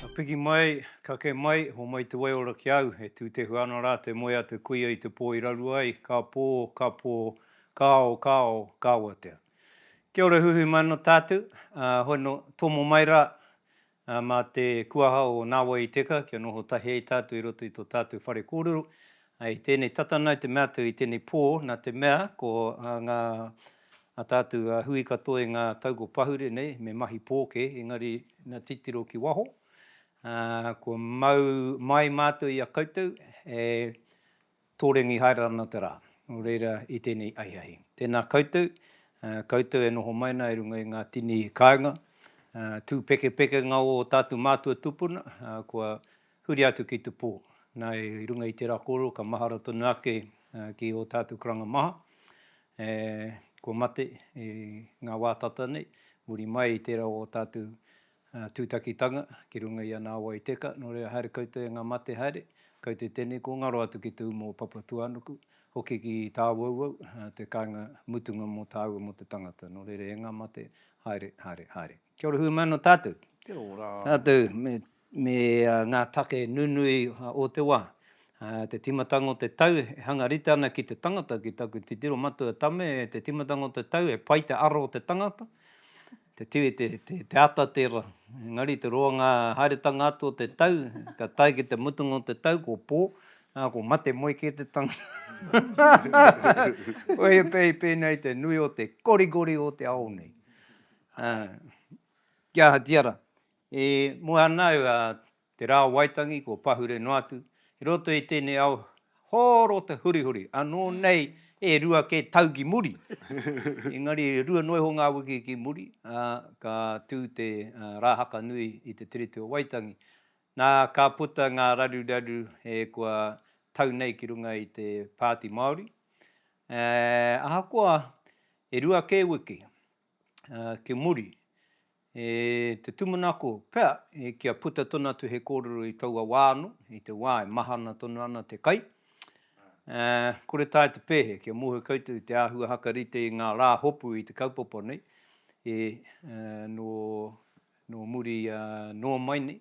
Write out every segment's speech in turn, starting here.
Ka piki mai, ka kē mai, homai te waiora ki a au, e tūtehua ana rā te moe a te kuia i te pō i rarua ai, ka pō, ka pō, ka ao, ka ao, ka awatea. Kia ora huhui mai ana tātou, hono tomo mai rā, Ā, mā te kuaha o Nāwai i Teka kia noho tahi ai tātou i roto i tō tātou whare kōrero, ā, i tēnei tata nāu te mea atu i tēnei pō, nā te mea, ko, ā, ngā, ā tātou, ā, hui katoa i ngā tau kua pahure nei, me mahi pōkē, engari, nā titiro ki waho, ā, kua mau mai mātou i a koutou, e. Tōrengi haere ana te rā, nō reira i tēnei ahiahi. Tēnā koutou, koutou e noho mai ana i runga i ngā tini kāinga, tū pekepekenga o ō tātou mātua tūpuna, kua huri atu ki te pō. Nā, i runga i tērā kōrero, ka mahara tonu ake ki ō tātou karanga maha, kua mate i ngā wā tata nei, muri mai i tērā o ō tātou Tūtakitanga, ki runga i a Nāwai Teka, nō reira haere koutou e ngā mate haere, koutou tēnei kua ngaro atu ki te umu o Papatuānuku, hoki ki Tāwauwau, te kāinga mutunga mō tāua mō te tangata, nō reira e ngā mate, haere, haere, haere. Kia ora humano tātou. Kia ora. Tātou me ngā take nunui o te wā. Te tīmatanga o te tau e hanga rite ana ki te tangata, ki taku titiro matua tame, te tīmatanga o te tau e pai te aro o te tangata, Te tū i te, te, te ata tērā. Engari te roa ngā haeretanga atu o te tau, ka tae ki te mutunga o te tau, ko pō, ā, ko mate moe kē te tangata. Koia pei pēnei te nui o te korikori o te ao nei. Ā, kia ahatia rā, e moe ana au, ā, Te Rā o Waitangi, kua pahure noa atu, i roto i tēnei ao hōro te hurihuri, anō nei e rua kē tau ki muri, engari e rua noa iho ngā wiki ki muri, ā, ka tū te Rā Haka Nui i te Tiriti o Waitangi. Nā, ka puta ngā raruraru e kua tau nei ki runga i te Pāti Māori, ā, ahakoa e rua kē wiki. ki muri, e te tūmanako pea kia puta tonu atu he kōrero i taua wā anō, i te wā e mahana tonu ana te kai. Kore taea te pēhea kia mōhio koutou te āhua haka rite i ngā rā hopu i te kaupapa nei, e nō muri noa mai nei,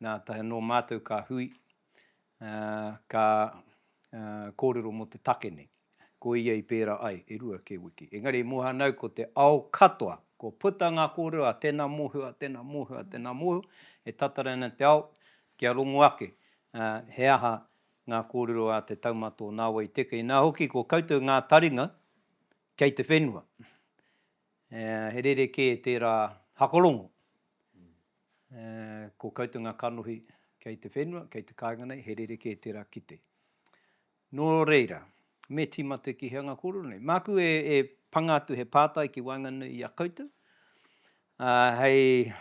nā taea nō mātou ka hui ka kōrero mō te take nei. Ko ia i pērā ai, e rua kē wiki. Engari i Mohanau ko te ao katoa, kua puta ngā kōrero a tēnā mōhio, a tēnā mōhio, a tēnā mōhio, e tatari ana te ao kia rongo ake he aha ngā kōrero a te taumata o Nāwai Teke. Inā hoki ko koutou ngā taringa kei te whenua. He rerekē tērā hakarongo Ko koutou nga kanohi kei te whenua, kei te kainga nei, he rerekē tera kite. No reira, me tima te kihe anga korero nei. Maku e panga atu he pātai ki waenganui i a koutou, hei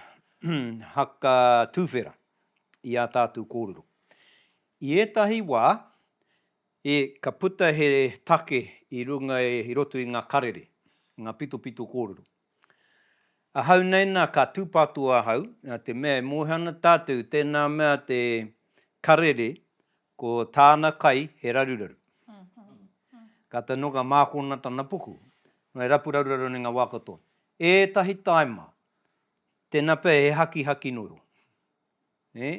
haka tuwhera i a tātou korero. I etahi wa, ka puta he take i runga, i roto i nga karere, nga pitopito korero. Ahau nei nā ka tūpato ahau, nā te mea e moe ana tātou i tēnā mea te Karere ko tāna kai he raruraru. Kātahi noa ka mākona tana puku, noa he rapu raruraru nei ngā wā katoa. Ētahi taima, tēnā pea he hakihaki noa iho. Nē?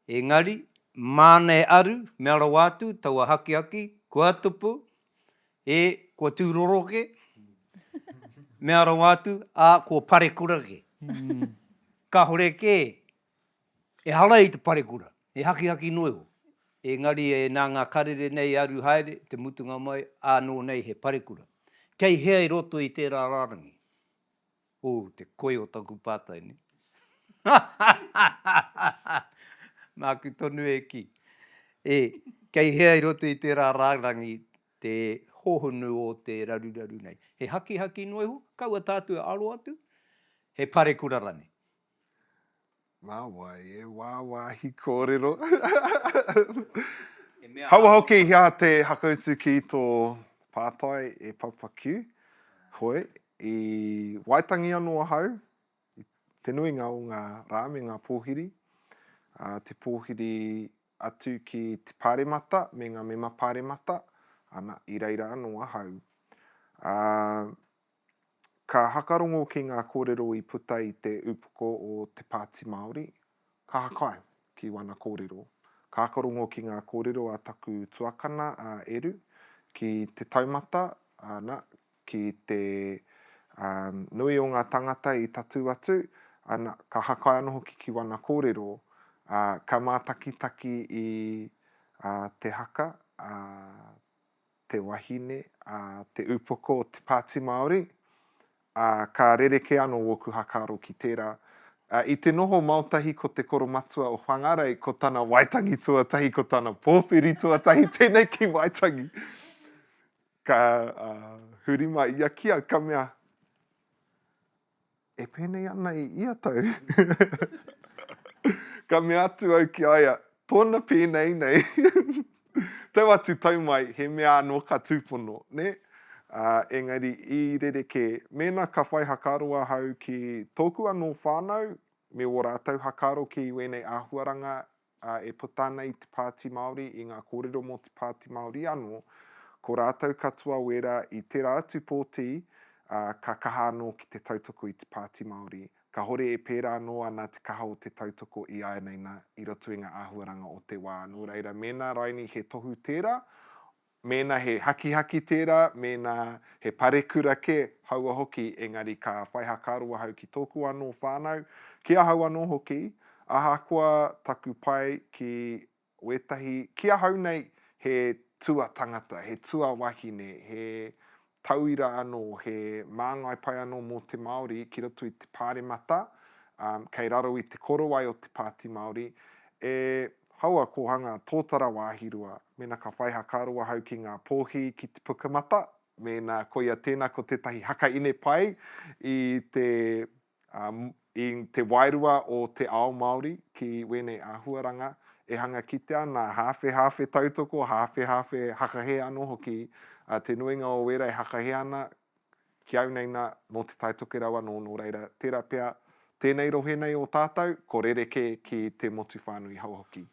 Engari, māna e aru, mea rawa atu, taua hakihaki, kua tupu, ē, kua tūroro kē, mea rawa atu, ā, kua parekura kē. Kāore kē, ehara i te parekura, he hakihaki noa iho. Engari, e, nā ngā karere nei e aru haere, te mutunga mai, ānō nei he parekura. Kei hea i roto i tērā rārangi? Ooh, te koi o taku pātai nei. Nāku tonu e kī. E, kei hea i roto i tērā rārangi te hohonu o te raruraru nei? He hakihaki noa iho? Kaua tātou e aro atu? He parekura rānei? Nā wai e wāwāhi kōrero. Kaua hoki hea te hakautu ki tō pātai e Papa Q. Hoi, i Waitangi anō ahau, te nuinga o ngā rā me ngā pōhiri, te pōhiri atu ki te pāremata me ngā mema pāremata, ana, i reira anō ahau. Ka hakarongo ki ngā kōrero i puta i te upoko o Te Pāti Māori, ka hakai ki wana kōrero. Ka hakarongo ki ngā kōrero a taku tuakana a Eru, ki te taumata, ana, ki te nui o ngā tāngata i tatū atu, ana, ka hakai anō hoki ki wana kōrero, ā, ka mātakitaki i te haka, ā, te wahine, ā, te upoko o te Pāti Māori, ā, ka rerekē anō wōku hakaaro ki tērā. Ā, i te noho maotahi ko te koromatua o Whangarei, ko tana waitangi tuatahi, ko tana pōwhiri tuatahi tēnei ki Waitangi. Ka, ā, huri mai ia ki au, ka mea, E pēnei ana i ia tau? Ka mea atu au ki a ia, Tōna pēnei nei. Tau atu, tau mai, he mea anō ka tūpono, nē? Ā, engari i rerekē, mēnā ka whai hakaaro ahau ki tōku anō whānau me ō rātou hakaaro ki wēnei āhuaranga ā, e puta ana i te Pāti Māori, i ngā kōrero mō te Pāti Māori anō, ko rātou katoa wērā i tērā atu pōti, ā, ka kaha anō ki te tautoko i te Pāti Māori. Kāhore e pērā anō ana te kaha o te tautoko ināianei nā, i roto i ngā āhuaranga o te wā. Nō reira, mēnā rainī he tohu tērā, Mēnā he hakihaki tērā, mēnā he parekura kē, haua hoki, engari ka whai hakaaro ahau ki tōku anō whānau, ki ahau anō hoki, ahakoa taku pai ki wētahi, ki ahau nei he tuatangata, he tuawahine, he tauira anō, he māngai pai anō mō te Māori ki roto i te Pāremata, kei raro i te korowai o te Pāti Māori, e hau a Kōhanga tōtara wāhi rua, mēnā ka whai hakaaro ahau ki ngā pōhi ki te pukamata, mēnā koia tēnā ko tētahi haka ine pai i te Ā, i te wairua o te ao Māori ki wēnei āhuaranga e hanga kitea ana, hāwhehāwhe tautoko, hāwhehāwhe hakahē anō hoki, ā, te nuinga o wērā e hakahē ana, ki au nei nā, nō Te Tai Tokerau anō, nō reira, tērā pea, tēnei rohe nei o tātou, ko rerekē ki te motu whānui hou hoki.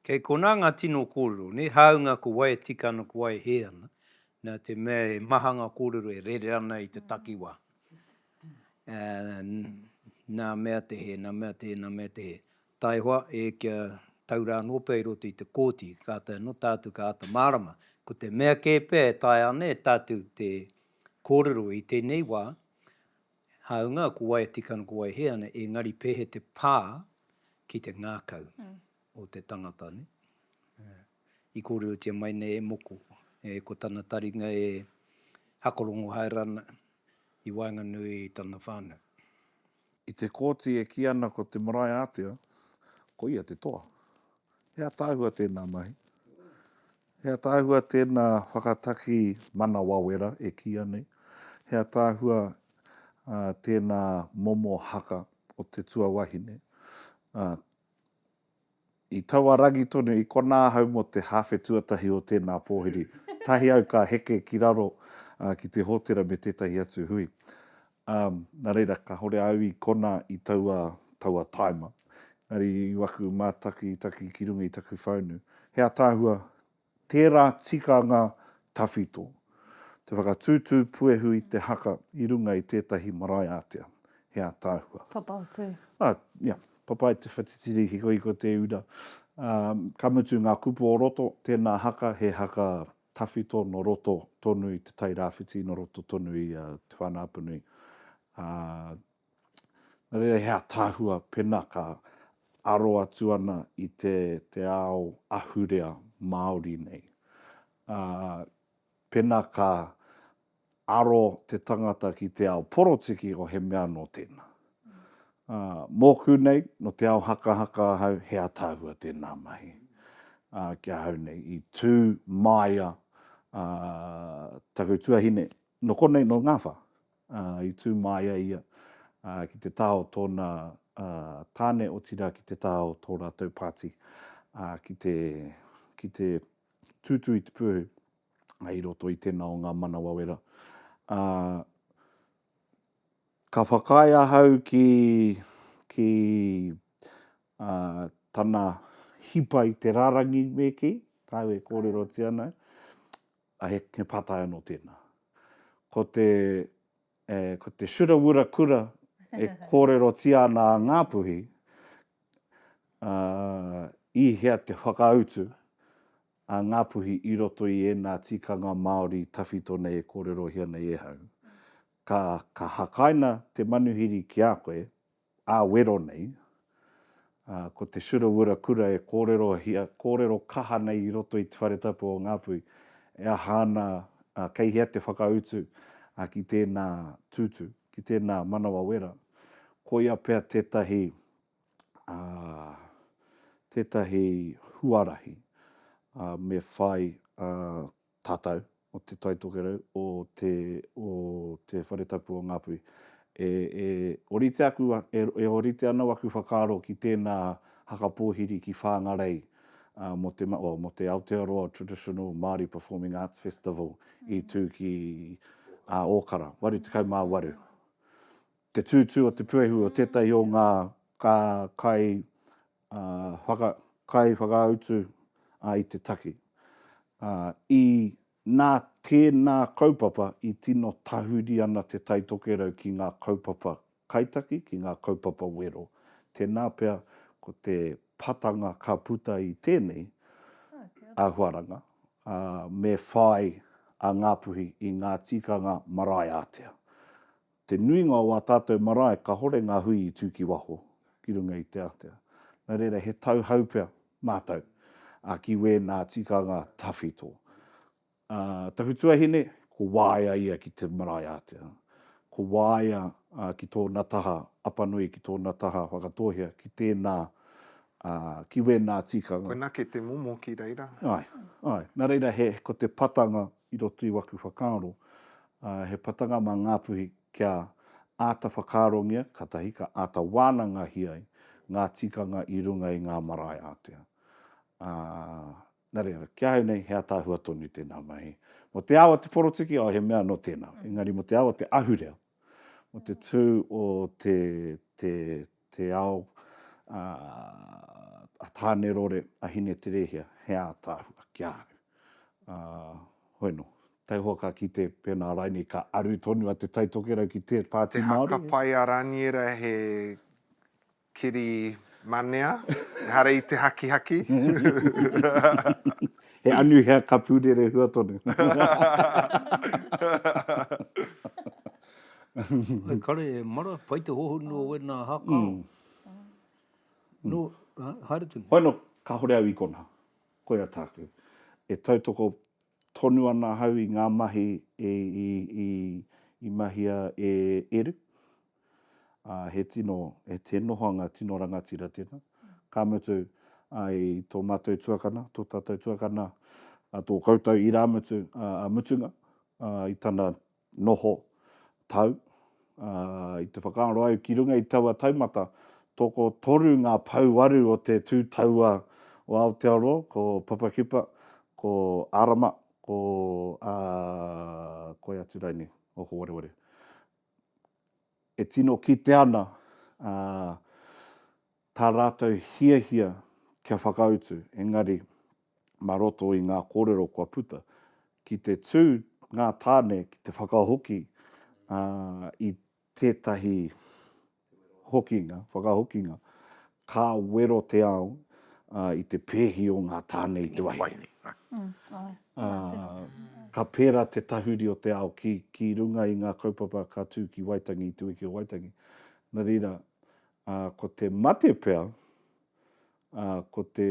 Kei konā ngā tino kōrero, nē, hāunga ko wai e tika ana, ko wai e hē ana, nā te mea he maha ngā kōrero e rere ana i te takiwā. Nā mea te hē, nā mea te hē, nā mea te hē. Taihoa, e kia tau rā anō pea i roto i te kōti, kātahi anō tātou ka āta mārama. Ko te mea kē pea e taea ana e tātou te kōrero i tēnei wā, Hāunga ko wai e tika ana, ko wai he ana, engari pēhea te pā ki te ngākau o te tangata, nē? I kōrerotia mai nei e Moko, e, ko tana taringa e hakarongo haere ana i waenganui i tana whānau. I te kōti e kī ana ko te marae ātea, koia te toa. He ataahua tēnā mahi. He ataahua tēnā whakataki manawawera e kīia nei. He ataahua tēnā momo haka o te tuawahine. I taua rangi tonu, i konā ahau mō te hāwhe tuatahi o tēnā pōhiri, tahi au ka heke ki raro ki te hōtera me tētahi atu hui. Ā, nā reira, kāhore au i konā i taua, taua tāima. Engari i waku mātakitaki ki runga i taku whaunu, he ataahua tērā tikanga tawhito, te whakatūtū puehu i te haka i runga i tētahi marae ātea. He ataahua. Papa o Tū. Ā, ia, papa i te whatitiri hikohiko te ura. Ā, ka mutu ngā kupu o roto, tēnā haka he haka tawhito nō roto tonu i Te Tai Rāwhiti, nō roto tonu i Te Whānau-a-Apanui. Ā, nā reira he ātaahua pēnā ka aro atu ana i te, te ao ahurea Māori nei. Ā, pēnā ka aro te tangata ki te ao porotiki o he mea nō tēnā. Ā, mōku nei, nō te ao hakahaka ahau, he ataahua tēnā mahi. Ā, ki ahau nei, i tū māia ā, taku tuahine, nō konei, nō Ngāwha. Ā, i tū māia ia ā, ki te taha o tōna ā, tāne, otirā ki te taha o tō rātou pāti ā, ki te, ki te tūtū i te pū. i roto i tēnā o ngā manawa wera. Ā, ka whakaae ahau ki, ki, ā, tana hipa i te rārangi me kī, kāu e kōrerotia ana, ā, he, he pātai anō tēnā. Ko te, e, ko te Shura Wura Kura e kōrerotia ana a Ngāpuhi, ā, i hea te whakautu, a Ngāpuhi i roto i ēnā tikanga Māori tawhito nei e kōrerohia nei e hau. Ka, ka hakaina te manuhiri ki a koe, ā wero nei, ā, ko te Surawura Kura e kōrerohia, kōrero kaha nei i roto i Te Whare Tapu o Ngāpuhi, e aha ana, ā, kei hea te whakautu, ā, ki tēnā tūtū, ki tēnā manawa wera. Koia pea tētahi ā, tētahi huarahi ā, me whai ā, tātou o Te Tai Tokerau, o te, o Te Whare Tapu o Ngāpuhi, e, e orite aku, e, e orite anō aku whakaaro ki tēnā haka pōhiri ki Whāngarei ā, mō te, oh, mō te Aotearoa Traditional Māori Performing Arts Festival i tū ki ā, Ōkara, 88. Te tūtū o te puehu o tētahi o ngā kai whakautu i te take. I nā tēnā kaupapa i tino tahuri ana Te Tai Tokerau ki ngā kaupapa kaitaki, ki ngā kaupapa wero. Tēnā pea ko te patanga ka puta i tēnei āhuaranga, me whāi a Ngāpuhi i ngā tikanga marae ātea. Te nuinga o ā tātou marae kahore ngā hui i tū ki waho, ki runga i te atea. Nā reira he tauhou pea mātou ki wēnā tikanga tawhito. Taku tuahine, ko waea ia ki te marae ātea. Ko waea ki tōna taha apanui, ki tōna taha whakatōhea, ki tēnā, ki wēnā tikanga. Koinā kei te momo ki reira. Āe, āe. Nā reira he, ko te patanga i roto i waku whakaaro, he patanga mā Ngāpuhi kia āta whakaarongia, katahi ka āta wānangahia ai ngā tikanga i runga i ngā marae ātea. Ā, nā reira, ki ahau nei he ataahua tonu tēnā mahi. Mō te ao o te poroptiki, oh, he mea anō tēnā. Engari mō te ao o te ahurea, mō te tū o te, te, te ao a, a Tānerore, a Hineterehia, he ātaahua ki a au. Ā, hoi nō, taihoa ka kite pēnā rainei ka aru tonu a Te Taitokerau ki Te Pāti Māori. He haka pai a Raniera, he Kiri manea, ehara i te hakihaki. He anuhea ka pūrere hua tonu. He kare e mara, pai te hohonu o wena hakaro. No, haere tonu. Hoi no, kahore au i kona. Koia tāku. E tautoko tonu ana ahau i ngā mahi i mahia e Eru. ā, he tino, he nohoanga tino rangatira tēnā. Ka mutu, i tō mātou tuakana, tō tātou tuakana, tō koutou irāmutu a mutunga, i tana noho tau, i te whakaaro au ki runga i taua taumata, tokotoru ngā pouaru o te tū taua o Aotearoa, ko Papakipa, ko Arama, ko, ā, koia atu rānei, o Howareware. e tino kitea ana tā rātou hiahia kia whakautu, engari mā roto i ngā kōrero kua puta, ki te tū ngā tāne ki te whakahoki i tētahi Hokinga, whakahokinga, Ka wero te ao i te pēhi o ngā tāne i te wahine. Ka pērā te tahuri o te ao ki runga i ngā kaupapa ka tū ki Waitangi i te wiki o Waitangi. Nā reira, ko te mate pea ā, ko te,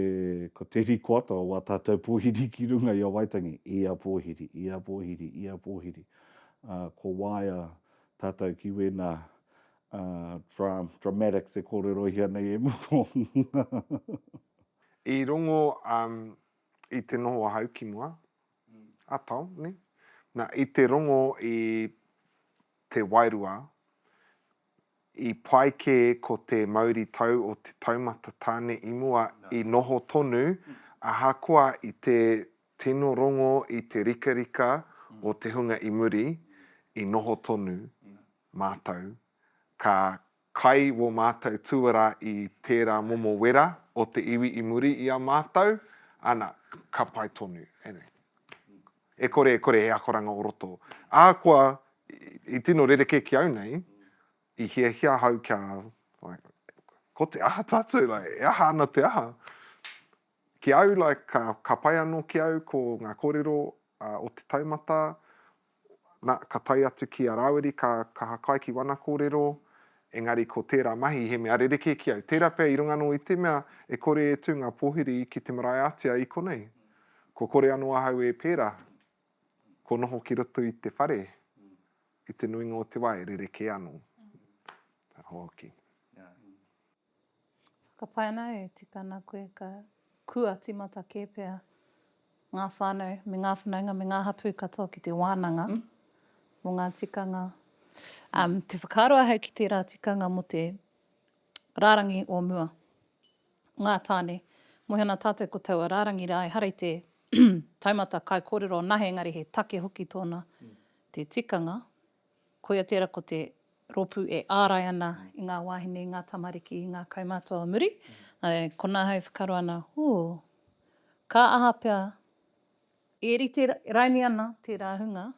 ko te rikoata o wā tātou pōhiri ki runga i a Waitangi, ia pōhiri, ia pōhiri, ia pōhiri, ā, ko waea tātou ki wēnā, ā, dra, dramatics e kōrerohia nei e Muro. I rongo, ā, i te noho ahau ki mua, ā tau, nē? Nā, i te rongo i te wairua, I pai kē ko te mauritau o te taumata tāne i mua i noho tonu ahakoa i te tino rongo i te rikarika o te hunga i muri, i noho tonu mātou ka kai wō mātou tuara i tērā momo wera o te iwi i muri i a mātou, ana, ka pai tonu. E kore, e kore he akoranga o roto. Ahakoa, i tino rerekē ki au nei, i hiahia ahau kia, like, ko te aha tātou, like, e aha ana te aha? Ki au, like, ka, ka pai anō ki au ko ngā kōrero a, o te taumata, nā, ka tae atu ki a Rāwiri, ka kaha kai ki wana kōrero, engari ko tērā mahi he mea rerekē ki au. Tērā pea i runga anō i te mea e kore e tū ngā pōhiri ki te marae ātea i konei. Kua kore anō ahau e pērā, kua noho ki roto i te whare, i te nuinga o te wā e rerekē anō. Ka hoki. Whakapae ana au e tika ana koe ka kua timata kē pea ngā whānau me ngā whanaunga me ngā hapū katoa ki te wānanga mō ngā tikanga. Te whakaaro ahau ki tērā tikanga mō te rārangi o mua. Ngā tāne, Moe ana tātou ko taua rārangi rā ehara i te taumata kaikōrero anahe engari he take hoki tōna te tikanga. Koia tērā ko te rōpū e ārai ana i ngā wāhine, i ngā tamariki, i ngā kaumātua o muri. Nāre, konā ahau e whakaaro ana, ooh, ka aha pea e rite raini ana tērā hunga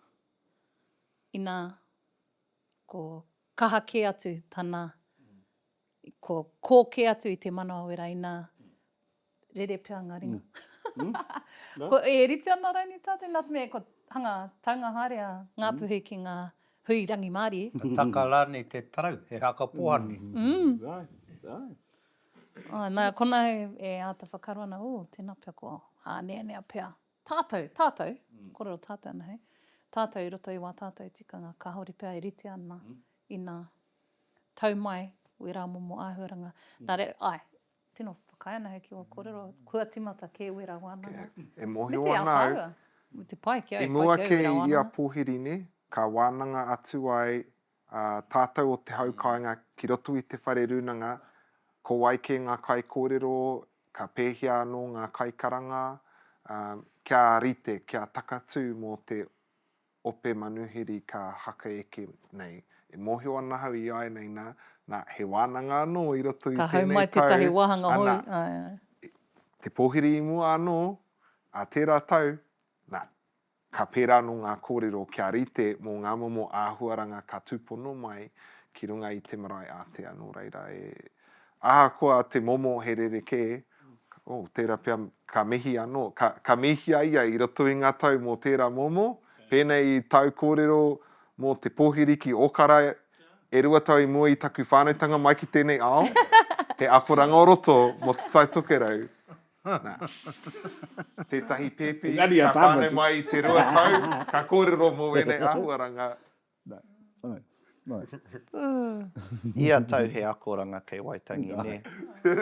inā ko kaha kē atu tana Ko, ko ke atu i te manawera ina rere pea nga ringa. Mm. Mm. ko, e rite ana raini tatou, na te mea, ko hanga taunga haere a Ngapuhi mm. ki nga hui rangimārie. Ka taka rānei te tarau, he haka pohani. Mm. Mm. Right, right. Oh, nā, kona e, e āta whakaro ana, oh, tēnā pea ko hāneanea pea. Tātou, tātou, kōrero tātou ana hei, tātou i roto i wā tātou tikanga kāore pea e rite ana i nā tau mai wērā momo āhuaranga. Nā reira, āe, tino whakaae ana hei ki wā kōrero, kua tīmata kē wērā wānanga. E mōhio ana au. Me te Aotearoa. Me te pai ki au, pai ki au wērā wānanga. I mua kē i a Pōhirine, ka wānanga atu ai A tātou o Te Hau Kāinga ki roto i Te Whare Rūnanga, ko wai kē ngā kaikōrero, ka pēhea anō ngā kaikaranga, ā, kia rite, kia takatū mō te ope manuhiri ka haka eke nei. E mōhio ana ahau i āianei nā, nā, he wānanga anō i roto i tēnei tau, ana, te pōhiri i mua anō, ā tērā tau, nā, Ka pērā anō ngā kōrero kia rite mō ngā momo āhuaranga ka tūpono mai ki runga i te marae ātea, nō reira e. Ahakoa te momo he rerekē, oh, tērā pea ka mihi anō, ka, ka mihia ia i roto i ngā tau mō tērā momo, pēnei i tāu kōrero mō te pōhiri ki Ōkara e rua tau i mua i taku whānautanga mai ki tēnei ao, he akoranga o roto mō Te Tai Tokerau, Nā, tētahi pēpi ka whānau mai i te rua tau, ka kōrero mō ēnei āhuaranga. Ia tau he akoranga kei Waitangi, nē?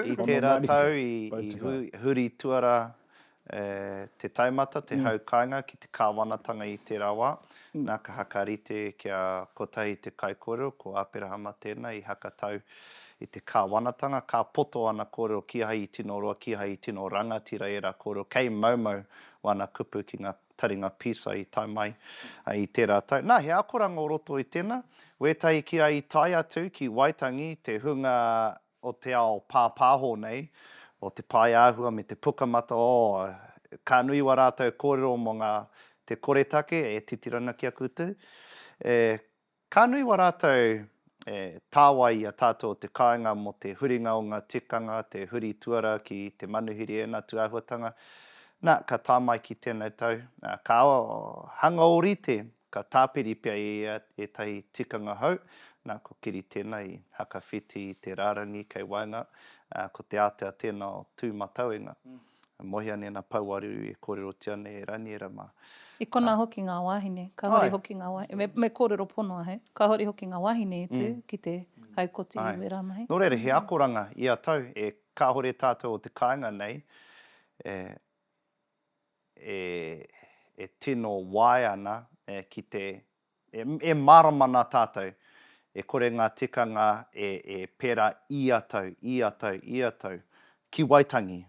I tērā tau i huri tuarā te taumata, te hau kāinga ki te kāwanatanga i tērā wā. Nā, ka hakarite kia kotahi te kaikōrero, ko Āperahama tēnā i hakatau I te Kāwanatanga, ka poto ana kōrero kīhai i tino roa, kīhai i tino rangatira ērā kōrero kei maumau wana kupu ki ngā taringa pīsai i tae mai i tērā tau. Nā, he akoranga o roto i tēnā, wētahi ki a i tae atu ki Waitangi, te hunga o te ao pāpāho nei, o te pae āhua me te pukamata, ō, ka nui wā rātou kōrero mō ngā te koretake e titiro ana ki a koutou, e. Ka nui wa ratou e tawai i a tatou o te kainga mo te huringa o nga tikanga, te huri tuara ki te manuhiri ena tu ahuatanga. Na, ka ta mai ki tenau tau, ka hanga orite, ka tapiri pea e ia etahi tikanga hou, na, ko kiri tena i hakawhiti i te rarangi kei waenga, ko te atea tena o tu matau e nga. E mohi ana ēnā pouareru e kōrerotia nei e Raniera mā. I konā hoki ngā wāhine, kāore hoki ngā wāhine, me kōrero ponoa hei, kāore hoki ngā wāhine i tū ki te haukoti i wērā mahi. Nō reira, he akoranga ia tau e kāore tātou o te kāinga nei e tino wae ana ki te E mārama nā tātou, e kore ngā tikanga e pērā ia tau, ia tau, ia tau. Ki Waitangi.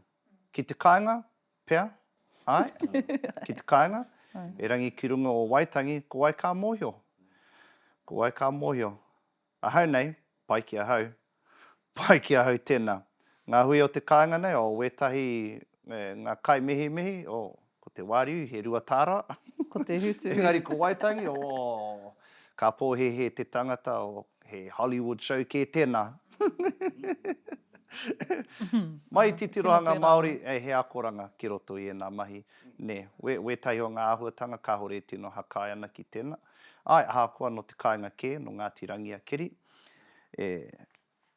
Ki te kāinga, pea? Āe? Ki te kāinga? Erangi ki runga o Waitangi, ko wai ka mōhio? Ko wai ka mōhio? Ahau nei, pai ki ahau. Pai ki ahau tēnā. Ngā hui o te kāinga nei, o wētahi me ngā kaimihimihi, o, ko te wāriu, he rua tāra. Ko te hutu. Engari ko Waitangi, o, ka pōhēhē te tangata, o, he Hollywood show kē tēnā. Mai i te tirohanga Māori, e, he akoranga ki roto i ēnā mahi, nē. Wētahi o ngā āhuatanga kāore e tino hakae ana ki tēnā. Āe, ahakoa nō te kāinga kē, nō Ngāti Rangiakeri, e,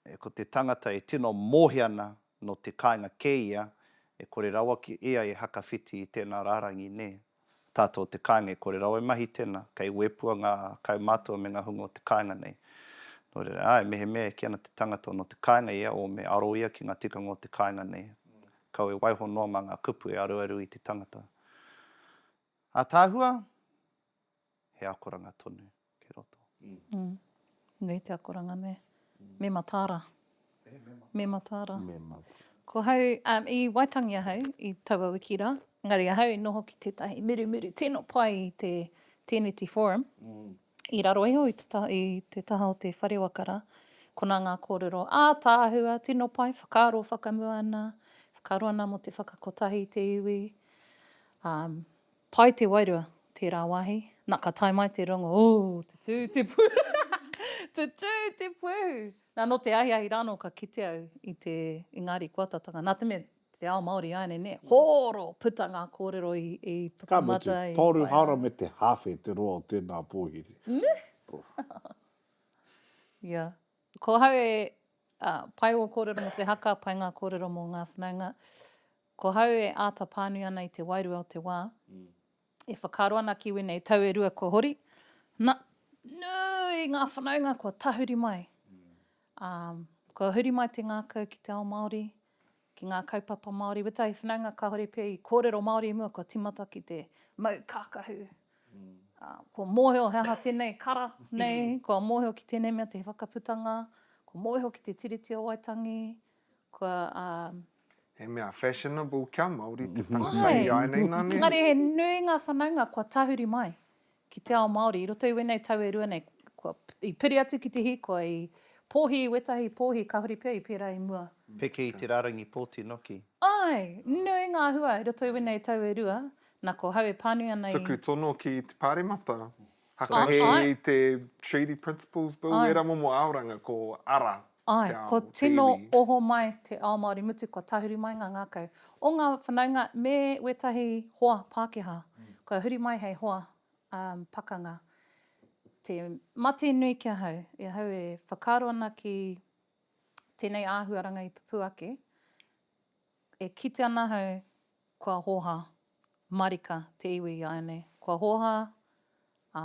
e, ko te tangata e tino mōhia ana nō te kāinga kē ia, e kore rawa ki ia e hakawhiti i tēnā rārangi, nē. Tātou o te kāinga e kore rawa e mahi tēnā, kei wēpua ngā kaumātua me ngā hunga o te kāinga nei. Nō reira, āe, mehemea e kī ana te tangata nō te kāinga ia, o me aro ia ki ngā tikanga o te kāinga nei, kau e waiho noa mā ngā kupu e aruaru i te tangata. Ataahua? he akoranga tonu kei roto. Nui te akoranga ne. Me mataara. Me mataara. Ko hau, i Waitangi ahau i taua wiki ra, engari ahau i noho ki tetahi murumuru tino pai i te Teneti Forum, i raro iho i te taha o te whare waka ra, kona nga korero ataahua tino pai, whakaaro whakamua ana, whakaaro ana mo te whakakotahi i te iwi, Pai te wairua, tērā wāhi. Na, ka tae mai te rongo, ooh, tutū te pūhū, tutū te pūhū! Na, nō te ahiahi rānō ka kite au i te Ingāri Koatatanga. Nā te mea, te ao Māori āianei, nē? Hōro! Puta ngā kōrero i puta mata, i whai. Ka mutu, Tōru hāora me te hāwhe te roa o tēnā pōhiri. Nē? Ia. Ko ahau e, pai ō kōrero mō te haka, pai ngā kōrero mō ngā whanaunga. Ko hau e āta pānui ana i te wairua o te wā. E whakaaro ana ki wēnei tau e rua kua hori, na, nui ngā whanaunga kua tahuri mai. Ā, kua huri mai te ngākau ki te ao Māori, ki ngā kaupapa Māori. Wētahi whanaunga kāore pea i kōrero Māori i mua kua tīmata ki te mau kākahu. Ā, kua mōhio he aha tēnei kara nei, kua mōhio ki tēnei mea te whakaputanga, kua mōhio ki te Tiriti o Waitangi, Kua, um. He mea fashionable kia Māori te tangata i āianei nā nehe. Engari he nui ngā whanaunga kua tahuri mai ki te ao Māori i roto i wēnei tau e rua nei. Kua, i piri atu ki te hīkoi, i pōhi i wētahi pōhi kāore pea i pērā i mua. Peke i te rārangi pōti noki. Āe, nui ngā hua i roto i wēnei tau e rua. Nā, ko hau e pānui ana i. Tuku tono ki te Pāremata. Hakahi i te Treaty Principles Bill, wērā momo aoranga ko ara te ao, te iwi. Ai, kua tino oho mai te ao Māori mutu kua tahuri mai ngā ngākau o ngā whanaunga me wētahi hoa Pākehā, kua huri mai hei hoa pakanga. Te mate nui ki ahau, i ahau e whakaaro ana ki tēnei āhuaranga i pupū ake, E kite ana ahau kua hoha marika te iwi i a au nei. Kua hoha, ā,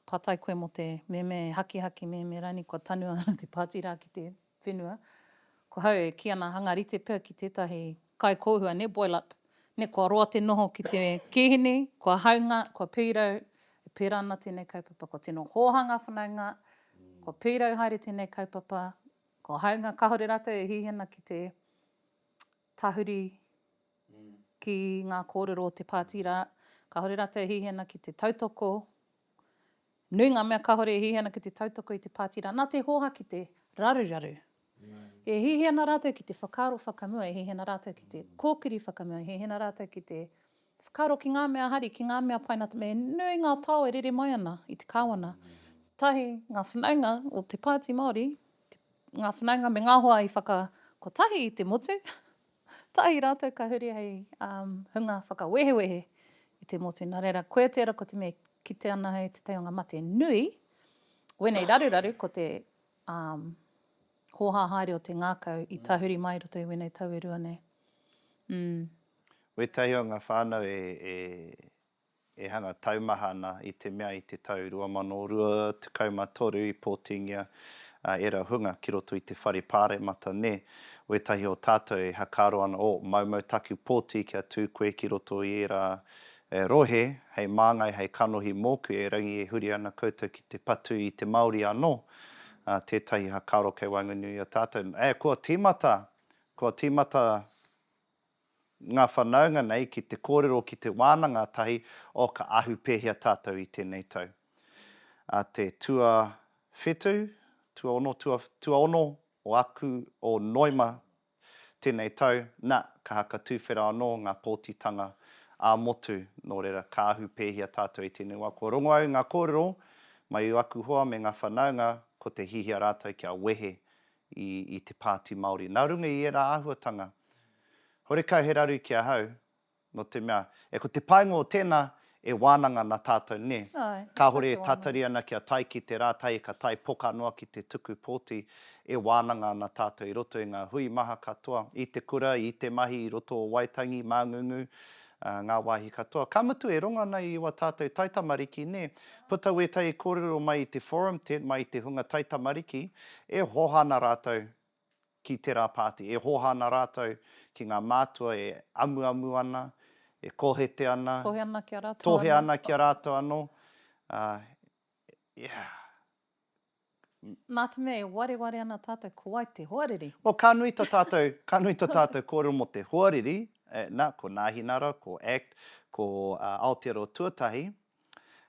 patai koe mō te meme hakihaki meme rani kua tanu ahau te pāti rā ki te whenua. Ko hau e kī ana hanga rite pea ki tētahi kaikōhua nē, boil up, nē kua roa te noho ki te kīhini, kua haunga, kua pīrau, e pērā ana tēnei kaupapa, kua tino hoha ngā whanaunga, kua pīrau haere tēnei kaupapa, Ko Haunga kahore ratou e hihi ana ki te tahuri ki nga korero o te pati ra, kahore ratou e hihi ana ki te tautoko, nui nga mea kahore e hihi ana ki te tautoko i te pati ra, na te hoha ki te raruraru. E hihi ana ratou ki te whakaaro whakamua, e hihi ana ratou ki te kokiri whakamua, e hihi ana ratou ki te Whakaaro ki ngā mea hari, ki ngā mea paina, me nui ngā tao e rere mai ana i te Kāwana. Tahi, ngā whanaunga o te Pāti Māori, ngā whanaunga me ngā hoa i whaka kotahi i te motu, tahi rātou ka huri hei um, hunga whakawehewehe i te motu. Nā reira, koia tērā ko te mea kite ana hei te taionga mate nui, wēnei raruraru ko te um, hōhā haere o te ngākau i tahuri mai roto i wēnei tau e rua nei. Mm. Wētahi o ngā whānau e hanga taumaha ana i te mea i te tau 2023 i pōtingia a ērā hunga ki roto i te whare pāremata nē, wētahi o tātou e hakaaro ana o, maumau taku pōti kia tū koe ki roto i ērā rohe hei māngai hei kanohi mōku erangi e huri ana koutou ki te patu i te Māori anō tētahi hakaaro kei waenganui i a tātou, ē kua tīmata, kua tīmata. ngā whanaunga nei ki te kōrero ki te wānanga tahi o ka ahu pēhea tātou i tēnei tau. A te tuawhitu, tuaono, tua, tuaono o aku, o Noema tēnei tau, na, ka haka tūwhera anō ngā pōtitanga ā motu, nō reira, ka ahu pēhea tātou i tēnei wā. Kua rongo au i ngā kōrero mai o aku hoa me ngā whanaunga ko te hihia rātou kia wehe i te Pāti Māori. Nā runga i ērā āhuatanga, horekau he raru ki ahau, nō te mea, e ko te painga o tēnā, e wānanga ana tātou, nē? Āe, kāore e tatari ana kia tae ki te rā tahi ka tae poka noa ki te tuku pōti, e wānanga ana tātou i roto i ngā hui maha katoa, i te kura, i te mahi i roto o Waitangi, Māngūngū, ngā wāhi katoa. Ka mutu e rongo ana i ua tātou taitamariki, nē, puta wētahi kōrero mai i te forum tent, mai i te hunga taitamariki, e hoha ana rātou ki tērā pāti, e hoha ana rātou ki ngā mātua e amuamu ana, e kohete ana, Tohe ana ki a rātou anō. tohe ana ki a rātou anō, ā, yeah. Nātemea e wareware ana tātou ko wai te hoariri? Well, ka nui to tātou, ka nui to tātou kōrero mō te hoariri, eh, na, ko Nāhinara, ko act, ko Aotearoa Tuatahi,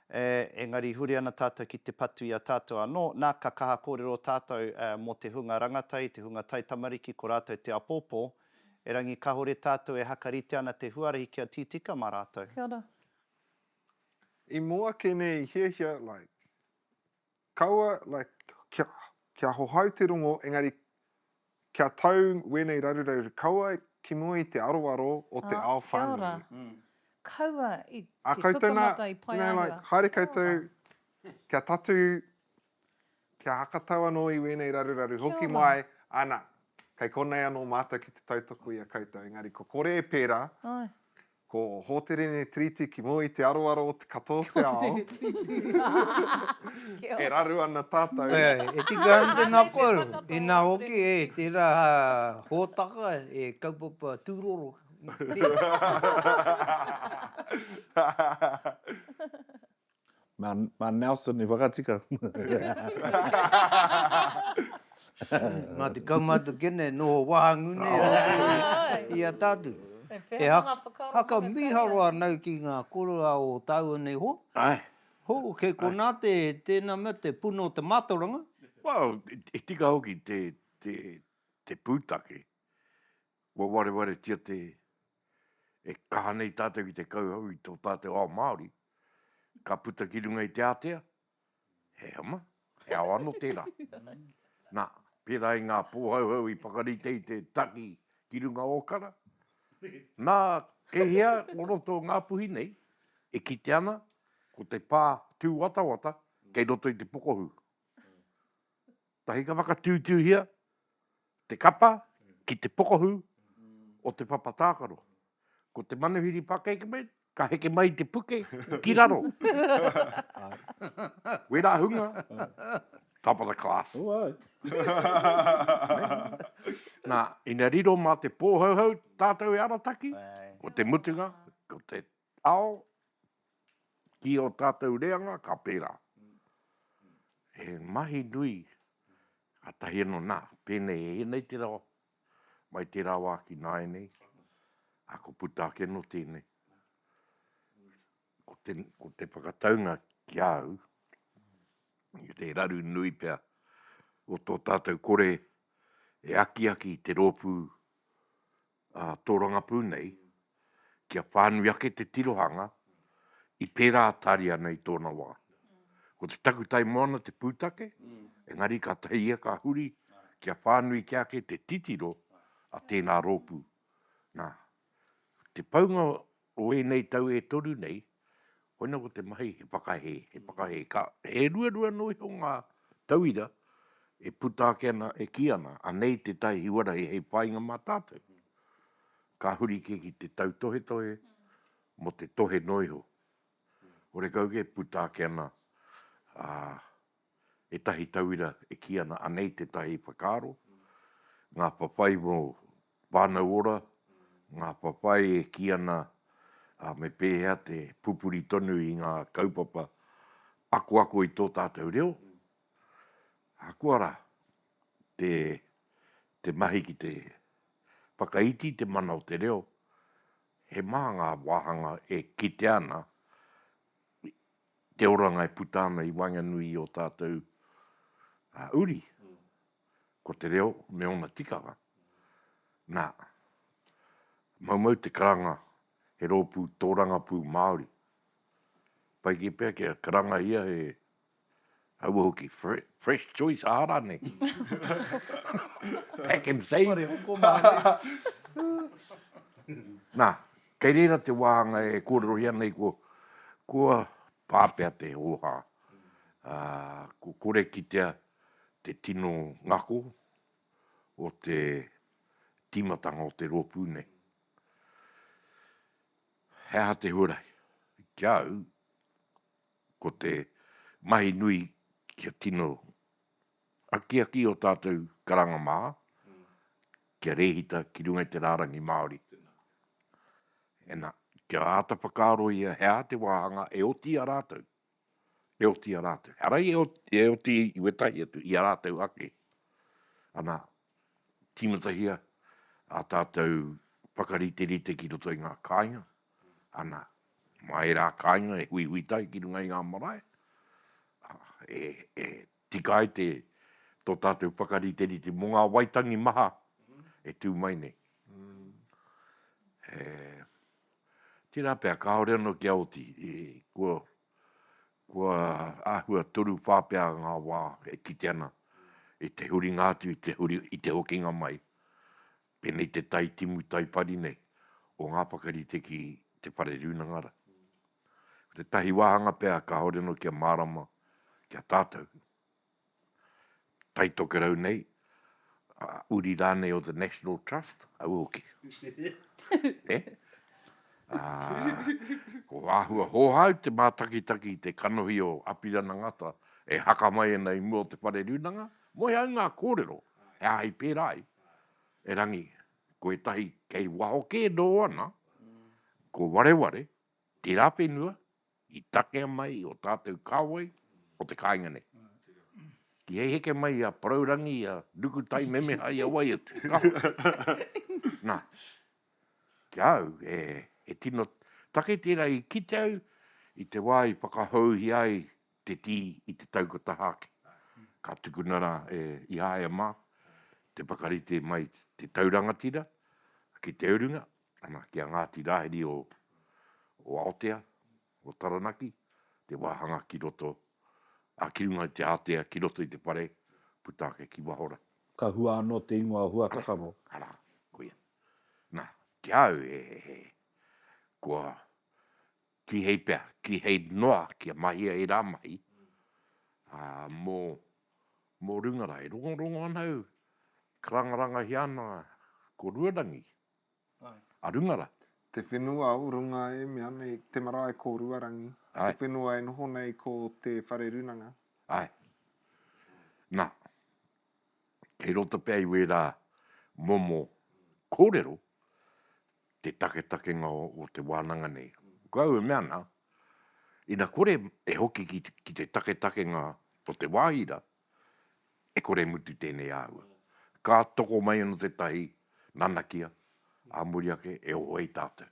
eh, engari huri ana tātou ki te patu i a tātou anō, na, ka kaha kōrero tātou, eh, mō te hunga rangatahi, te hunga taitamariki, ko rātou te apōpō, erangi kahore tātou e haka rite ana te huarahi kia tītika mā rātou. Kia ora. I mua ke nei i hiahia, like, Kaua, like, kia hohau te rongo, engari kia tau wēnei raruraru kaua ki mua i te aroaro o te ao whānui. Ā, kia ora. Kaua i te pukamata i Paeahua. Ā koutou nā, you know, like, haere koutou, kia tatū, kia hakatau anō i wēnei raruraru hoki mai, ana, kei konei anō mātou ki te tautoko i a koutou, engari kua kore e pērā, Ko Hōterene Tiriti ki mua i te aroaro o te katoa o te ao. Hōterene Tiriti. E raru ana tātou. E, e tika ana te ngākau. Inā hoki, e, tērā hōtaka e kaupapa tūroro. Mā, mā Nelson i whakatika. Nā te kaumātua kene e noho wāhangū nei rātou i a tātou. E haka mīharo anau ki ngā koroua o tāua nei hoa. Āe. Hō, kei konā te, tēnā mea te puna o te mātauranga. Well, he tika hoki te, te, te pūtake. Kua wareware tia te, e kaha nei tātou ki te kauhau i tō tātou ao Māori, ka puta ki runga i te ātea, he ama, he ao ano tērā. Nā, pērā i ngā pōhauhau i whakarite i te taki ki runga o Kara, nā, kei hea o roto o Ngāpuhi nei, e kite ana, ko te pā tūwatawata kei roto i te pokohū. Tahi ka whakatūtūhia te kapa ki te pokahū o te papa tākaro. Ko te manuhiri pakekpe ka heke mai te puke ki raro. Wera hunga, top of the class. Nā, ina riro mā te pōhauhau tātou e arataki, ko te mutunga, ko te Ao ki o tatou reanga ka pera. He mahi nui katahi ano na, penei e enei te rawa, mai tera wa ki naenei, a ko puta ake no tenei. Ko te, ko te whakataunga ki a au, i te raru nui pea o to tatou kore e akiaki i te ropu tōrangapū nei, kia whānui ake te tirohanga i pērā tāria ana i tōna wā. Ko te takutai moana te pūtake, engari kātahi ia ka huri kia whānui kē ake te titiro a tēnā rōpū. Nā, te paunga O ēnei tau e toru nei, koina ko te mahi he whakahē, he whakahē. He ruarua anō iho ngā tauira e puta ake ana, e kī ana, anei tētahi huarahi hei whāinga mā tātou. Ka huri kē ki te tautohetohe mō te tohe noa iho. Horekau kē, puta ake ana ētahi tauira e kī ana anei tētahi whakaaro, ngā whawhai mō Whānau Ora, ngā whawhai e kī ana me pēhea te pupuri tonu i ngā kaupapa akoako i tō tātou reo, ahakoa rā, te mahi ki te whakaiti i te mana o te reo, he maha ngā wāhanga e kitea ana te oranga e puta ana i waenganui i ō tātou uri, ko te reo me ōna tikanga. Nā, maumau te karanga he rōpū tōrangapū Māori. Pai kē pea kia karangahia he Kaua hoki, fresh choice ā rānei. Pack and save. Whare hoko mārie. Nā, kei reira te wāhanga e kōrerohia nei ko, kua pāpea te hōhā. Kua kore kitea te tino ngako o te tīmatanga o te rōpū nei. He aha te huarahi? Ki a au, ko te mahi nui kia tino akiaki o tātou karanga mā, kia rēhita ki runga i te rārangi Māori. Ena, kia āta whakaaro ia he aha te wāhanga e oti i a rātou, e oti i a rātou. Arai e oti i wētahi atu, i a rātou ake. Ana, tīmatahia ā tātou whakariterite ki roto i ngā kāinga, ana, mā ērā kāinga e huihui tahi ki runga i ngā marae, ā, e, e tika ai te, tō tātou whakariterite mō ngā Waitangi maha e tū mai nei. He, tērā pea, kāore anō kia oti, kua, Kua āhua toru whā pea ngā wā e kite ana i te huringa atu, i te hokinga mai, pēnei te tai timu, tai pari nei, o ngā whakarite ki te Whare Rūnanga Rā. Ko tētahi wāhanga pea kāore anō kia mārama ki a tātou. Tai Tokerau nei, a uri rānei o The National Trust, au hoki. E? Ā, ko āhua hōhāu te mātakitaki i te kanohi o Apirana Ngata e haka mai ana i mua o te whare rūnanga, moe ai ngā kōrero, he āhei pērā ai, erangi, ko ētahi kei waho kē nō ana, ko Wareware, tērā whenua, I takea mai o tātou kāwai o te kāinga nei. Ki hei heke mai i a Porourangi, i a Nukutai memeha i a wai atu, ka hoki. Nā, ki a au, e, he tino take tērā i kite au i te wā i whakahouhia ai te tī i te taukataha ake. Ka tukuna rā e Ihaia mā te whakarite mai te tau rangatira ki te urunga, Ana ki a Ngāti Rāhiri o o Aotea, o Taranaki, te wāhanga ki roto, ā, ki runga i te ātea, ki roto i te whare, puta ake ki waho rā. Ka hua anō te ingoa Huatakaro. Arā, koia. Nā, ki a au he, he, kua kīhei pea, kīhei noa kia mahia ērā mahi, ā, mō, mō runga rā. E rongorongo ana au, e karangarangahia ana ko Ruarangi. a runga ra. Te whenua o runga e mea nei, te marae ko Ruarangi, te whenua e noho nei ko Te Whare Runanga. Ae. Na, kei roto pea i wera momo korero, te taketakenga o te wananga nei. Ko au e mea ana, ina kore e hoki ki te taketakenga o te wahi ra, e kore e mutu tēnei āhua. Ka toko mai anō tētahi nanakia, ā muri ake e oho ai tātou.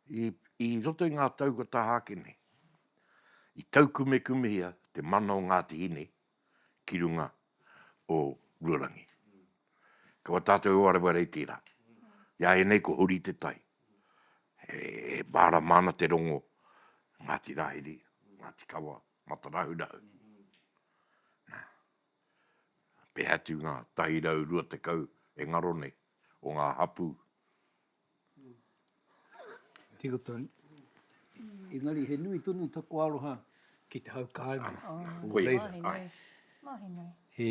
I, i roto i ngā tau kua taha ake nei, i taukumekumehia te mana o Ngāti Hine ki runga o Ruarangi. Ko a tātou e wareware i tērā. I a ianei ko Huri Te Tai, e, e mārama ana te rongo Ngāti Rāhiri, Ngāti Kawa, Matarahurahu. Na, pēhea atu ngā 120 e ngaro nei o ngā hapū? Tiko tonu. Engari he nui tonu taku aroha ki te hau kāinga. Ko reira. Mahi nui. Mahi nui. He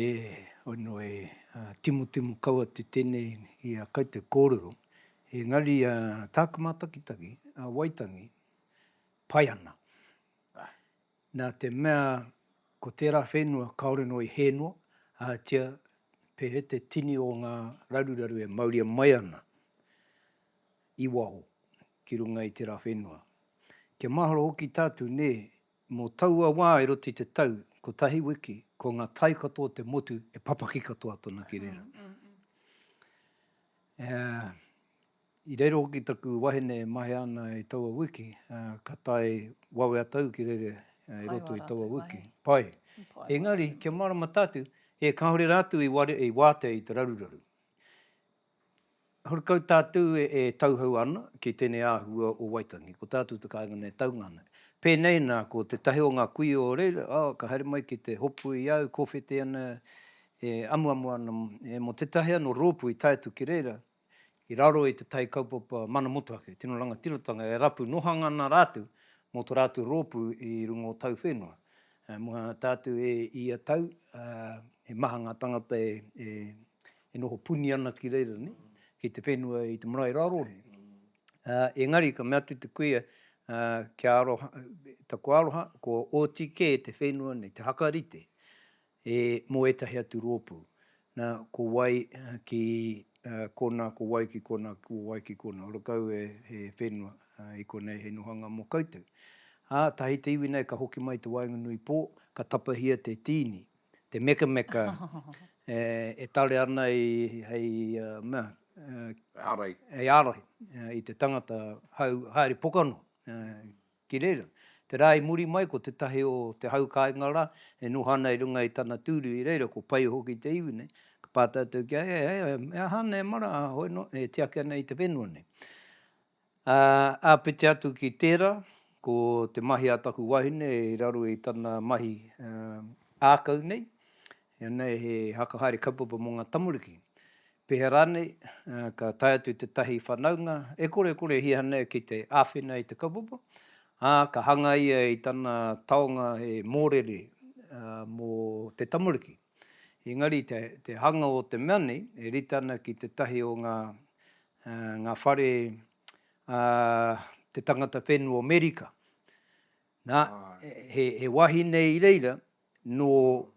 whanu e timotimo kau atu tēnei i a kau te kōrero. Engari tāku mātakitaki, a Waitangi, pai ana. Nā te mea ko tērā whenua kāore noa i hē noa, ahatia pēhea te tini o ngā raruraru e mauria mai ana i waho ki runga i tērā whenua. Kia mahalo hoki tātou, nē, mō taua wā e roto i te tau kotahi wiki, ko ngā tai katoa o te motu e papaki katoa tonu ki reira. I reira hoki taku wahine e mahea ana i taua wiki, ā, ka tae wawe atu au ki reira i roto i taua wiki. Pai. Engari, kia mārama tātou, e kāore rātou i ware, i wātea i te raruraru. Horekau tātou e tauhou ana ki tēnei āhua o Waitangi, ko tātou te kāinga nei e taunga ana. Pēnei nā, ko tētahi o ngā kuia o reira, ā, ka haere mai ki te hopu i a au, kōwhete ana, e amuamu ana, mō tētahi anō rōpū i tae atu ki reira, i raro i te tai kaupapa mana motuhake, tino rangatiratanga e rapu nohanga ana rātou mō to rātou rōpū i runga o tau whenua. Mua tātou e ia tau, he maha ngā tangata e noho puni ana ki reira, ki te whenua i te marae raro. Engari ka mea atu te kuia, taku aroha, ko oti kē te whenua nei, te hakarite. He mō ētahi atu rōpū. Nā, ko wai ki konā, ko wai ki konā, ko wai ki konā. Ora kau e, he whenua, i konei he nohanga mō koutou. Ā, tahi te iwi nei ka hoki mai i te waenganui pō, ka tapahia te tīni, te mekameka e tare ana i, hei, mea, hei ārai i te tangata hau, haere pokanoa. Ki reira, te rā i muri mai ko tētahi o te hau kāinga rā e noho ana i runga i tana tūru i reira ko pai hoki te iwi nei, ka pā tātou ki a ia, he aha, he aha ana e mara a hoi noa e tiaki ana i te whenua nei. Ā, āpiti atu ki tērā, ko te mahi a taku wahine i raro i tana mahi ākau nei, ianei he haka haere kaupapa mō ngā tamariki. Pēhea rānei, ka tae atu tētahi whanaunga e korekorehia nei ki te āwhina i te kaupapa, ā, ka hanga ia i tana taonga he mōrere mō te tamariki. Engari, te hanga o te mea nei e rite ana ki tētahi o ngā whare a te tangata whenua o Amerika, nā, he wahine i reira nō,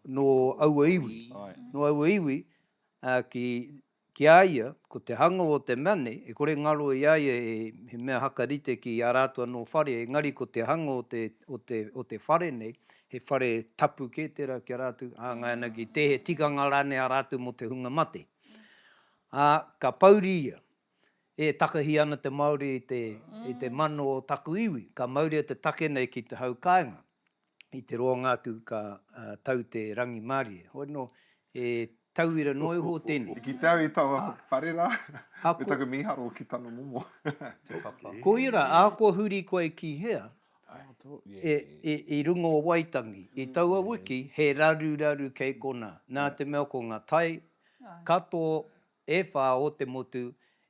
nō aua iwi, nō aua iwi, ā, ki, ki a ia, ko te hanga o te mea nei, e kore ngaro i a ia he, he mea haka rite ki a rātou anō whare, engari ko te hanga o te, o te, o te whare nei, he whare tapu kē tērā ki a rātou, hāngai ana ki te, he tikanga rānei a rātou mō te hunga mate. Ā, ka pouri ia, E takahi ana te Māori i te, i te mano o taku iwi, ka mauria te take nei ki te hau kāinga. i te roanga atu ka tau te rangimārie. Hoi anō, he tauira noa iho tēnei. I kite au i taua whare rā, me taku mīharo ki tana momo. Koia rā, ahakoa huri koe ki hea, i runga o Waitangi, i taua wiki, he raruraru kei konā. Nā te mea ko ngā tai katoa e whā o te motu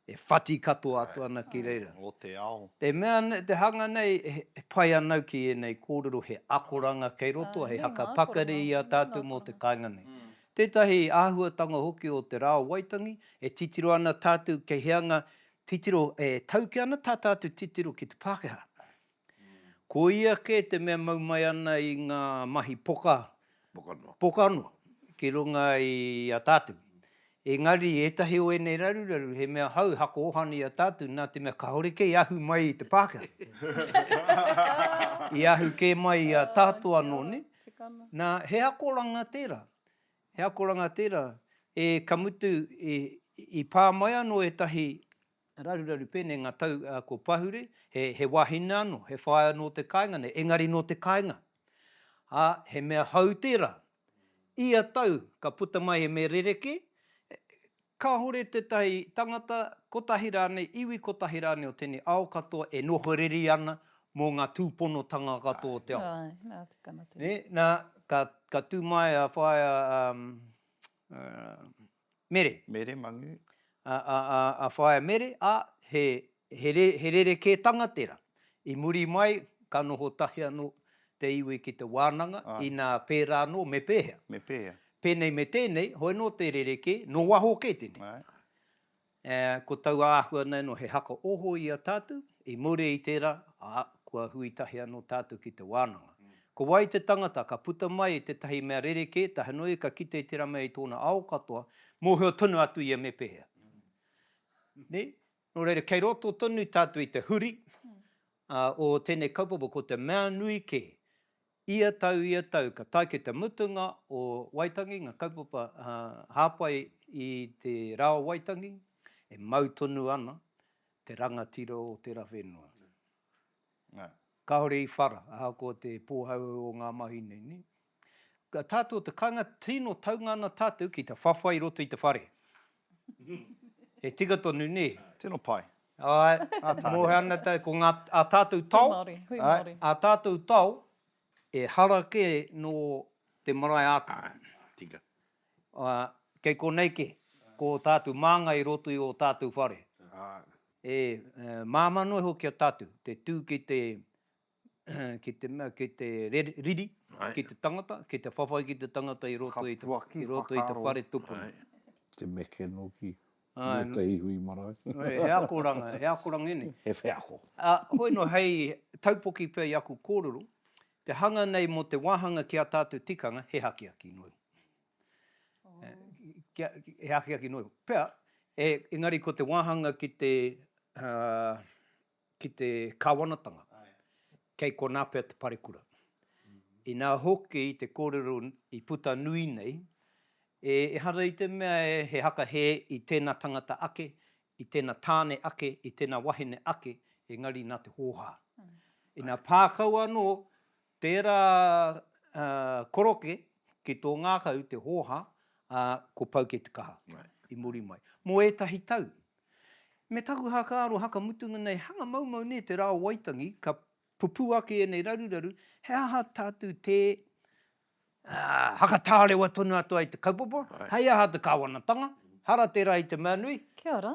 e whati katoa atu ana ki reira. O te ao. Te mea, te hanga nei, he pai anau ki ēnei kōrero, he akoranga kei roto, he haka pakari i a tātou mō te kāinga nei. Tētahi āhuatanga hoki o te rā o Waitangi, e titiro ana tātou kei hea ngā titiro, e tauke ana tā tātou titiro ki te Pākehā. Ko ia kē te mea mau mai ana i ngā mahi poka, poka noa, ki runga i a tātou. Engari, ētahi o ēnei raruraru, he mea hou, hako ohana i a tātou, nā te mea kāore kē i ahu mai i te Pākehā. I ahu kē mai i a tātou anō, nē? Nā, he akoranga tērā, he akoranga tērā. E, ka mutu, i pā mai anō ētahi Raruraru pēnei ngā tau ko Pahure, he wāhine anō, he whaea nō te kāinga nei, engari nō te kāinga. Ā, he mea hou tērā. Ia tau ka puta mai e Me Rereke, kāore tētahi tangata kotahi rānei, iwi kotahi rānei o tēnei ao katoa e noho reri ana mō ngā tūponotanga katoa o te ao. Āe, āe, nā, tukana tēnei. Nē, nā, ka tū mai a whaea Mere. Mere, Mangu. A, a, a, a Whaea Mere, a, he, he, re, he rerekētanga tera. I muri mai, ka noho tahi ano te iwi ki te wānanga, Ai. ina pērā anō, me pēhea? Me pēhea? Pēnei me tēnei, hoi no te rerekē, no waho kē tenei. Ai. Ā, ko taua āhua nei anō he haka oho i a tātou, i muri i tērā, ā, kua hui tahi anō tātou ki te wānanga. Ko wai te tangata ka puta mai i tētahi mea rerekē, tahinoi ka kite i tērā mea i tōna ao katoa, mōhio tonu atu ia me pēhea. Nē? Nō reira, kei roto tonu tātou i te huri, ā, o tēnei kaupapa, ko te mea nui kē, Ia tau, ia tau, ka tae ki te mutunga o Waitangi, ngā kaupapa hāpai i te rā o Waitangi, e mau tonu ana te rangatira o tērā whenua. Kāore i whara, ahakoa te pōhauhau o ngā mahi nei. Tātou o te kāinga, tino taunga ana tātou ki te whawhai i roto i te whare. He tika tonu, nē? Tino pai. Āe, mōhio ana tātou, ko ngā, ā tātou tao. Hui Māori, hui Māori. Ā tātou tao, ehara kē nō te marae ākonga. Tika. Ā, kei konei kē, ko ō tātou māngai i roto i ō tātou whare. Āe. E māmā noa hoki a tātou, te tū ki te ki te mea, ki te riri, ki te tangata, ki te whawhai ki te tangata i roto i te whare tupuna. Te meke noki, me te ihu i marae. He akoranga, he akoranga ēnei. He wheako. Hoi no, hei taupoki pea i aku kōrero, te hanga nei mō te wāhanga ki a tātou tikanga, he akiaki noa iho. He akiaki noa iho. Pea, engari ko te wāhanga ki te ki te Kāwanatanga, kei konā pea te parekura. Inā hoki te kōrero i puta nui nei, ehara i te mea he haka hē i tēnā tangata ake, i tēnā tāne ake, i tēnā wahine ake, engari nā te hōhā. Inā pā kau anō, Tērā koroke ki tō ngākau te hōhā, ā, ko Pauke te kaha i muri mai. Mō ētahi tau. Me taku hākāro haka mutunga nei, hanga maumau nē te rā o Waitangi, ka pupū ake ēnei raruraru, he aha tātou tē Hakatārewa tonu atu ai te kaupapa, hei aha te Kāwanatanga, hara tērā i te mea nui. Kia ora.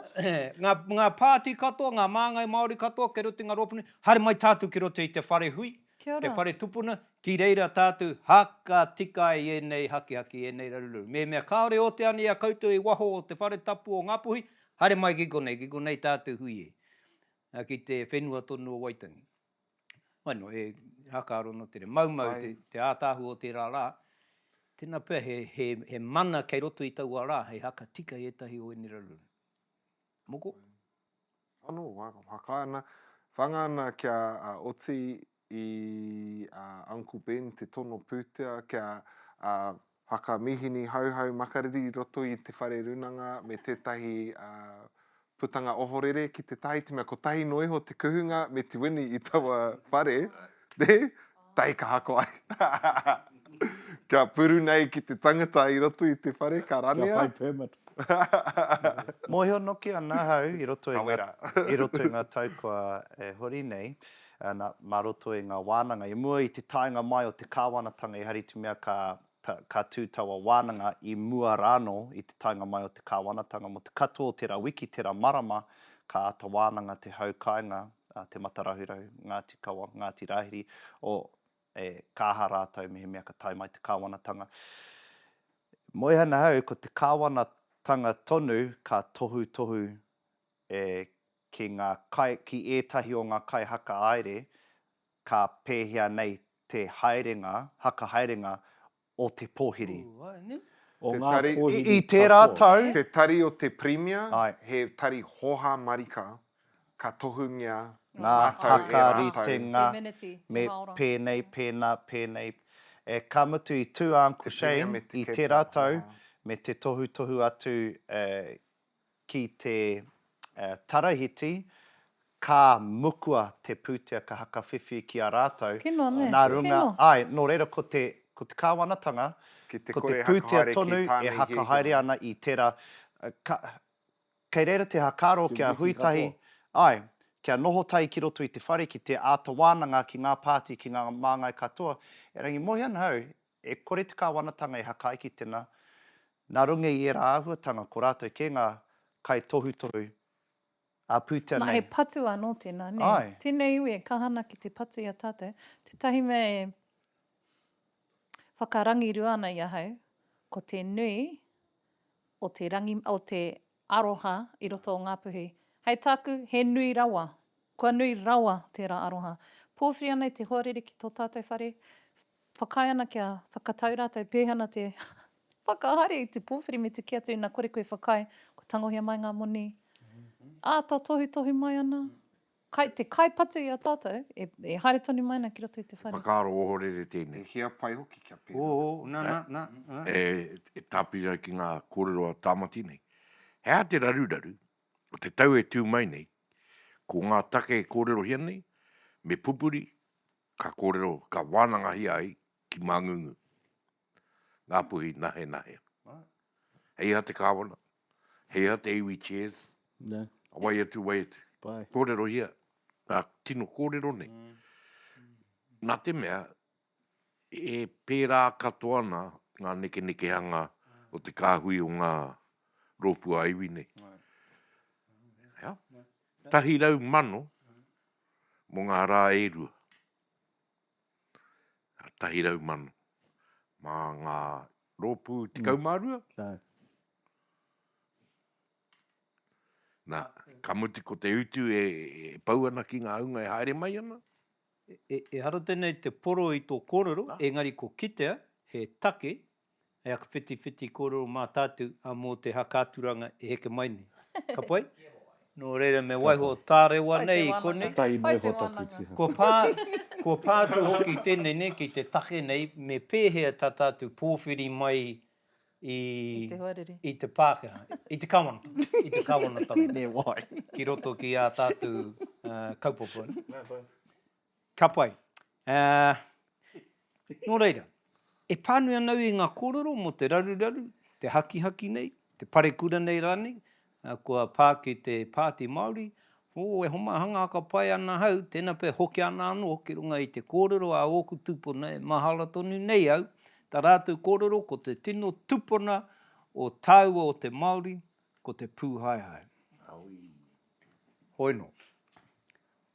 Ngā pāti katoa, ngā māngai Māori katoa kei roto i ngā rōpu nei, haere mai tātou ki roto i te whare hui, te whare tupuna, ki reira tātou haka tika ai ēnei hakihaki, ēnei raruraru. Mēmea kāore ō te ani i a koutou i waho o te whare tapu o Ngāpuhi, haere mai ki konei, ki konei tātou hui e, ki te whenua tonu o Waitangi. Wainō, he rākāro nō te reo. Maumau te ātaahu o tērā rā. Tēnā pea he mana kei roto i taua rā hei haka tika i ētahi o ēnei raruraru. Moko? Anō, haka ana, whanga ana kia oti i a Uncle Ben te tono pūtea kia Haka mīhini Hauhau Makariri i roto i te whare runanga me tētahi putanga ohorere ki te tae i te mea kotahi noa iho te kuhunga me te wini i taua whare, nē? Tae ka hako ai. Kia puru nei ki te tangata i roto i te whare ka ranea. Kia whai permit. Mōhio noke ana ahau i roto i ngā tau kua hori nei, Nā, mā roto i ngā wānanga. I mua i te taenga mai o te Kāwanatanga i hari te mea ka, ka, ka tū taua wānanga i mua rānō i te taenga mai o te Kāwanatanga. Mō te katoa o tērā wiki, tērā marama, ka āta wānanga te hau kāinga, te mata rahurahu, Ngāti Kawa, Ngāti Rāhiri, o, e, ka aha rātou mehemea ka tae mai te Kāwanatanga. Moe ana au, ko te Kāwanatanga tonu ka tohutohu e ki ngā kai, ki ētahi o ngā kaihakahaere ka pēhea nei te haerenga, hakahaerenga o te pōhiri. O ngā pōhiri I tērā katoa. tau. Te tari o te Pirimia, Ae. he tari hōhā marika, ka tohungia Ngā rātou e rātou. hakaritenga Te meneti, te me hāora. pēnei, pēnā, pēnei. E, ka mutu i tū a Uncle Te Pirimia Shane me te i Kepler, tērā tau, hōhā. me te tohutohu atu, eh, ki te Tarahiti, ka mukua te pūtea ka hakawhiwhi ki a rātou, nā runga, āe, nō reira ko te Kāwanatanga, ko te pūtea tonu e hakahaere ana i tērā, kei reira te whakaaro kia hui tahi, āe, kia noho tahi ki roto i te whare ki te āta wānanga ki ngā pāti, ki ngā māngai katoa, erangi, mohi ana au, E kore te Kāwanatanga e hakai ki tena, na runga i era ahuatanga ko ratou ke nga kai tohutohu a putea nei. Na he patu ano tena, ne? Ae. Tenei iwi e kaha ana ki te patu i a tatou, tetahi mea e whakarangirua ana i ahau, ko te nui o te rangi, o te Aroha i roto o Ngāpuhi. Hei tāku, he nui rawa. Kua nui rawa tērā aroha. Pōwhiri ana i te hoariri ki tō tātou whare, whakaae ana kia whakatau rātou pēhana te whakahaere i te pōwhiri me te kī atu ina kore koe whakaae, kua tangohia mai ngā moni. Āta tohutohu mai ana. Kai te kai patu i a tatou e haere tonu mai ana ki roto i te whare. Whakaaro ohorere tēnei. E hia pai hoki kia pērā. Ō, na, na, na, na. E tāpiri ai ki ngā kōrero a Tāmati nei. He aha te raruraru o te tau e tū mai nei, ko ngā take e kōrerohia nei, me pupuri, ka kōrero, ka wānangahia ai ki Māngungu. Ngāpuhi nahenahe. Hei aha te kāwana, hei aha te iwi chairs, a wai atu, wai atu. Kōrerohia ngā tino kōrero nei. Nā te mea, e pērā katoa ana ngā nekenekehanga o te kāhui o ngā rōpū ā-iwi nei. Tahi rau mano mō ngā rā e rua. Tahi rau mano. Mā ngā rōpū tekau mm. mā rua. Nā. Nā, ka mutu ko te utu e, e pau ana ki ngā hunga e haere mai ana. E, e, e hara tēnei te poro i tō kōrero, Nā. engari ko kitea he take hei aku whitiwhiti kōrero mā tātou ā mō te haka-aturanga e heke mai nei. Ka pai? Nō reira me waiho tārewa nei i konei. Tahi noa iho taku tiha. Kua pā, kua pā atu hoki tēnei nei ki te take nei me pēhea tā tātou pōwhiri mai i, i te Pākehā, i te Kāwanatanga, i te Kāwanatanga, me wai, ki roto ki ā tātou kaupapa. Ka pai. Aa. Nō reira, e pānui ana au i ngā kōrero mō te raruraru, te hakihaki nei, te parekura nei rānei, kua pā ki te Pāti Māori, oo, e homai hanga haka pai ana ahau, tēnā pea e hoki ana anō ki runga i te kōrero a ōku tūpuna e mahara tonu nei au, tā rātou kōrero ko te tino tupuna o tāua o te Māori ko te pūhaehae. Hoi nō.